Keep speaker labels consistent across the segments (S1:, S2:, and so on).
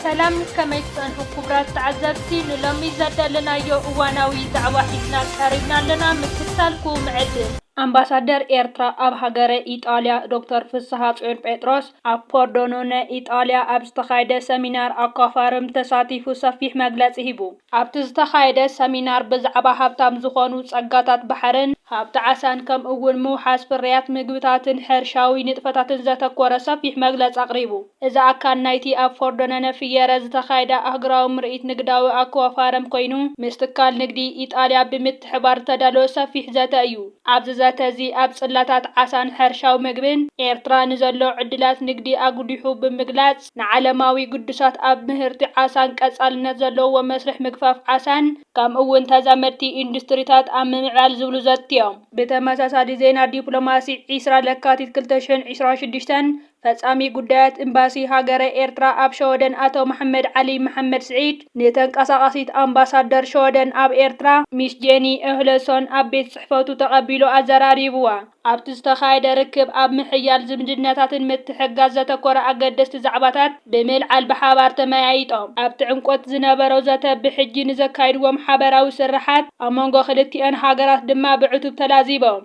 S1: ሰላም ከመይ ትጸንሑ ክቡራት ተዓዘብቲ ንሎሚ ዘዳለናዮ እዋናዊ ዛዕባ ሒዝና ቀሪብና ኣለና ምክትታልኩም ዕድም ኣምባሳደር ኤርትራ ኣብ ሃገረ ኢጣልያ ዶክተር ፍስሃጽዮን ጴጥሮስ ኣብ ፖርዶኖነ ኢጣልያ ኣብ ዝተኻየደ ሰሚናር ኣኳፋርም ተሳቲፉ ሰፊሕ መግለጺ ሂቡ። ኣብቲ ዝተኻየደ ሰሚናር ብዛዕባ ሃብታም ዝኾኑ ፀጋታት ባሕርን ሃብቲ ዓሳን ከምኡ እውን ምውሓስ ፍርያት ምግብታትን ሕርሻዊ ንጥፈታትን ዘተኮረ ሰፊሕ መግለፂ ኣቕሪቡ። እዚ ኣካል ናይቲ ኣብ ፎርዶነነ ፍየረ ዝተኻየደ ኣህጉራዊ ምርኢት ንግዳዊ ኣክዋፋርም ኮይኑ ምስ ትካል ንግዲ ኢጣልያ ብምትሕባር ዝተዳለወ ሰፊሕ ዘተ እዩ። ኣብዚ ዘተ እዚ ኣብ ፅላታት ዓሳን ሕርሻዊ ምግብን ኤርትራ ንዘሎ ዕድላት ንግዲ ኣጉሊሑ ብምግላፅ፣ ንዓለማዊ ግዱሳት ኣብ ምህርቲ ዓሳን ቀፃልነት ዘለዎ መስርሕ ምግፋፍ ዓሳን ከምኡ እውን ተዛመድቲ ኢንዱስትሪታት ኣብ ምምዕባል ዝብሉ ዘትዮም። ብተመሳሳሊ ዜና ዲፕሎማሲ ዕስራ ለካቲት ክልተ ሽሕን ዕስራን ሽዱሽተን ፈፃሚ ጉዳያት እምባሲ ሃገረ ኤርትራ ኣብ ሸወደን ኣቶ መሓመድ ዓሊ መሓመድ ስዒድ ንተንቀሳቓሲት ኣምባሳደር ሸወደን ኣብ ኤርትራ ሚስ ጄኒ ኦህለሶን ኣብ ቤት ፅሕፈቱ ተቐቢሉ ኣዘራሪቡዋ። ኣብቲ ዝተኻየደ ርክብ ኣብ ምሕያል ዝምድናታትን ምትሕግጋዝ ዘተኮረ ኣገደስቲ ዛዕባታት ብምልዓል ብሓባር ተመያይጦም። ኣብቲ ዕምቆት ዝነበሮ ዘተ ብሕጂ ንዘካይድዎም ሓበራዊ ስርሓት ኣብ መንጎ ክልቲኣን ሃገራት ድማ ብዕቱብ ተላዚቦም።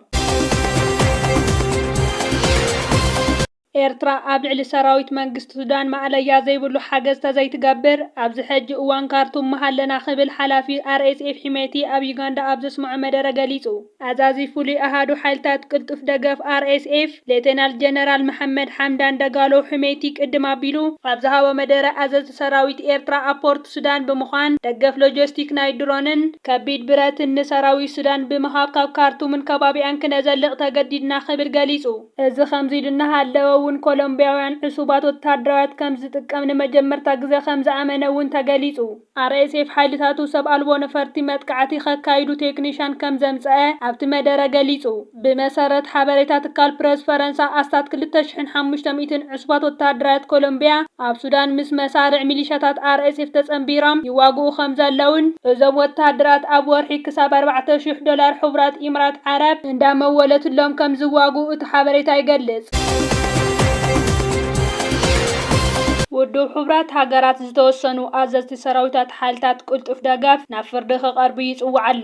S1: ኤርትራ ኣብ ልዕሊ ሰራዊት መንግስቲ ሱዳን ማእለያ ዘይብሉ ሓገዝ ተዘይትገብር ኣብዚ ሕጂ እዋን ካርቱም ምሃለና ክብል ሓላፊ ኣርኤስኤፍ ሒሜቲ ኣብ ዩጋንዳ ኣብ ዘስመዖ መደረ ገሊጹ። ኣዛዚ ፍሉይ ኣሃዱ ሓይልታት ቅልጡፍ ደገፍ ኣርኤስኤፍ ሌተናል ጀነራል መሓመድ ሓምዳን ደጋሎ ሑሜቲ ቅድም ኣቢሉ ኣብ ዝሃቦ መደረ ኣዘዝቲ ሰራዊት ኤርትራ ኣብ ፖርት ሱዳን ብምዃን ደገፍ ሎጀስቲክ ናይ ድሮንን ከቢድ ብረትን ንሰራዊት ሱዳን ብምሃብ ካብ ካርቱምን ከባቢኣን ክነዘልቕ ተገዲድና ክብል ገሊጹ። እዚ ከምዚ ኢሉ እናሃለወ እውን ኮሎምቢያውያን ዕሱባት ወተሃደራውያት ከም ዝጥቀም ንመጀመርታ ግዘ ከም ዝኣመነ እውን ተገሊፁ። RSF ሓይልታቱ ሰብ ኣልቦ ነፈርቲ መጥቃዕቲ ከካይዱ ቴክኒሻን ከም ዘምፀኣ ኣብቲ መደረ ገሊፁ። ብመሰረት ሓበሬታ ትካል ፕረስ ፈረንሳ ኣስታት ክልተ ሽሕን ሓሙሽተ ሚእትን ዕሱባት ወተሃደራት ኮሎምብያ ኣብ ሱዳን ምስ መሳርዕ ሚሊሻታት RSF ተጸንቢሮም ይዋግኡ ከምዘለዉን፣ እዞም ወተሃደራት ኣብ ወርሒ ክሳብ ኣርባዕተ ሽሕ ዶላር ሕቡራት ኢምራት ዓረብ እንዳመወለትሎም ከምዝዋግኡ እቲ ሓበሬታ ይገልጽ። ውድብ ሕቡራት ሃገራት ዝተወሰኑ ኣዘዝቲ ሰራዊታት ሓይልታት ቅልጡፍ ደገፍ ናብ ፍርዲ ክቐርቡ ይጽውዕ ኣሎ።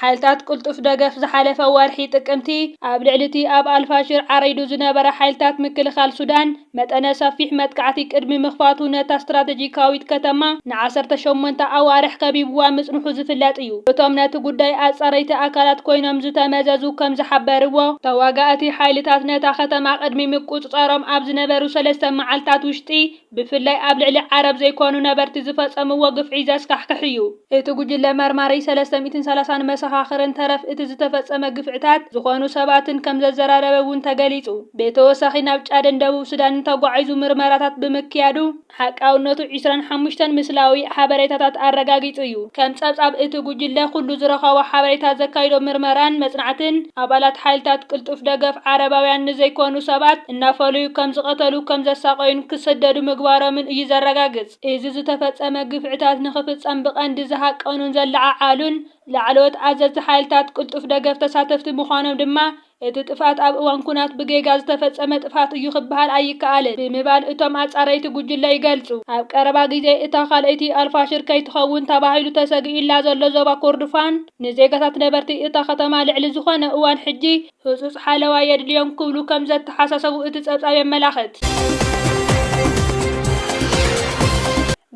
S1: ሓይልታት ቅልጡፍ ደገፍ ዝሓለፈ ወርሒ ጥቅምቲ ኣብ ልዕሊ'ቲ ኣብ ኣልፋሽር ዓሪዱ ዝነበረ ሓይልታት ምክልኻል ሱዳን መጠነ ሰፊሕ መጥቃዕቲ ቅድሚ ምኽፋቱ ነታ ስትራተጂካዊት ከተማ ንዓሰርተ ሸሞንተ ኣዋርሕ ከቢብዋ ምጽንሑ ዝፍለጥ እዩ። እቶም ነቲ ጉዳይ ኣጻረይቲ ኣካላት ኮይኖም ዝተመዘዙ ከም ዝሓበርዎ፣ ተዋጋእቲ ሓይልታት ነታ ከተማ ቅድሚ ምቁጽጻሮም ኣብ ዝነበሩ ሰለስተ መዓልታት ውሽጢ ብፍላይ ኣብ ልዕሊ ዓረብ ዘይኮኑ ነበርቲ ዝፈጸምዎ ግፍዒ ዘስካሕክሕ እዩ። እቲ ጉጅለ መርማሪ ሰለስተ ሚእትን ሰላሳን መሰኻኽርን ተረፍ እቲ ዝተፈጸመ ግፍዕታት ዝኾኑ ሰባትን ከም ዘዘራረበ እውን ተገሊጹ። ብተወሳኺ ናብ ጫድን ደቡብ ሱዳንን ተጓዒዙ ምርመራታት ብምክያዱ፣ ሓቃውነቱ ዕስራን ሓሙሽተን ምስላዊ ሓበሬታታት ኣረጋጊጹ እዩ። ከም ጸብጻብ እቲ ጉጅለ፣ ኩሉ ዝረኸቦ ሓበሬታ ዘካይዶ ምርመራን መጽናዕትን፣ ኣባላት ሓይልታት ቅልጡፍ ደገፍ ዓረባውያን ንዘይኮኑ ሰባት፣ እናፈለዩ ከም ዝቐተሉ፣ ከም ዘሳቐዩን ክስደዱ ምግባሮምን እዩ ዘረጋግጽ። እዚ ዝተፈጸመ ግፍዕታት ንኽፍጸም ብቐንዲ ዝሃቀኑን ዘለዓዓሉን ላዕለዎት ኣዘዝቲ ሓይልታት ቅልጡፍ ደገፍ ተሳተፍቲ ምዃኖም ድማ፣ እቲ ጥፍኣት ኣብ እዋን ኵናት ብጌጋ ዝተፈጸመ ጥፍኣት እዩ ክበሃል ኣይከኣልን ብምባል እቶም ኣጻረይቲ ጕጅለ ይገልጹ። ኣብ ቀረባ ግዜ እታ ካልኣይቲ ኣልፋሽር ከይትኸውን ተባሂሉ ተሰጊኡላ ዘሎ ዞባ ኮርዶፋን፣ ንዜጋታት ነበርቲ እታ ከተማ ልዕሊ ዝዀነ እዋን ሕጂ፣ ህጹጽ ሓለዋ የድልዮም ክብሉ ከም ዘተሓሳሰቡ እቲ ጸብጻብ የመላኽት።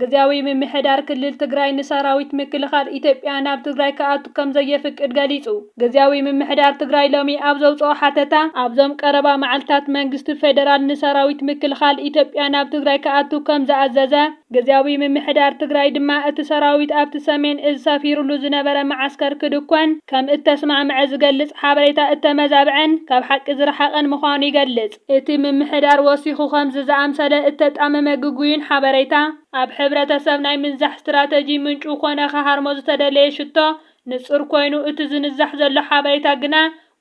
S1: ግዝያዊ ምምሕዳር ክልል ትግራይ ንሰራዊት ምክልኻል ኢትዮጵያ ናብ ትግራይ ክኣቱ ከም ዘየፍቅድ ገሊጹ። ግዝያዊ ምምሕዳር ትግራይ ሎሚ ኣብ ዘውጽኦ ሓተታ፣ ኣብዞም ቀረባ መዓልታት መንግስቲ ፌደራል ንሰራዊት ምክልኻል ኢትዮጵያ ናብ ትግራይ ክኣቱ ከም ዝኣዘዘ፣ ግዝያዊ ምምሕዳር ትግራይ ድማ እቲ ሰራዊት ኣብቲ ሰሜን እዝ ሰፊሩሉ ዝነበረ መዓስከር ክድኮን ከም እተስማዕምዐ ዝገልጽ ሓበሬታ እተመዛብዐን ካብ ሓቂ ዝረሓቐን ምዃኑ ይገልጽ። እቲ ምምሕዳር ወሲኹ ከምዚ ዝኣምሰለ እተጣመመ ግጉይን ሓበሬታ ኣብ ሕብረተሰብ ናይ ምንዛሕ ስትራተጂ ምንጩ ኮነ ክሃርሞ ዝተደለየ ሽቶ ንጹር ኮይኑ እቲ ዝንዛሕ ዘሎ ሓበሬታ ግና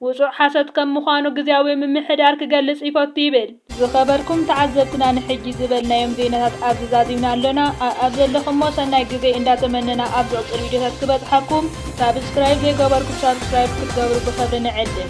S1: ውጹዕ ሓሶት ከም ምዃኑ ግዝያዊ ምምሕዳር ክገልጽ ይፈቱ ይብል። ዝኸበርኩም ተዓዘብትና ንሕጂ ዝበልናዮም ዜናታት ኣብዚ ዛዚምና ኣሎና ኣኣብ ዘለኹሞ ሰናይ ግዜ እንዳ ተመነና ኣብ ዝቕጽል ቪድዮታት ክበጽሓኩም ሳብስክራይብ ዘይገበርኩም ሳብስክራይብ ክትገብሩ ብኽብሪ ንዕድም።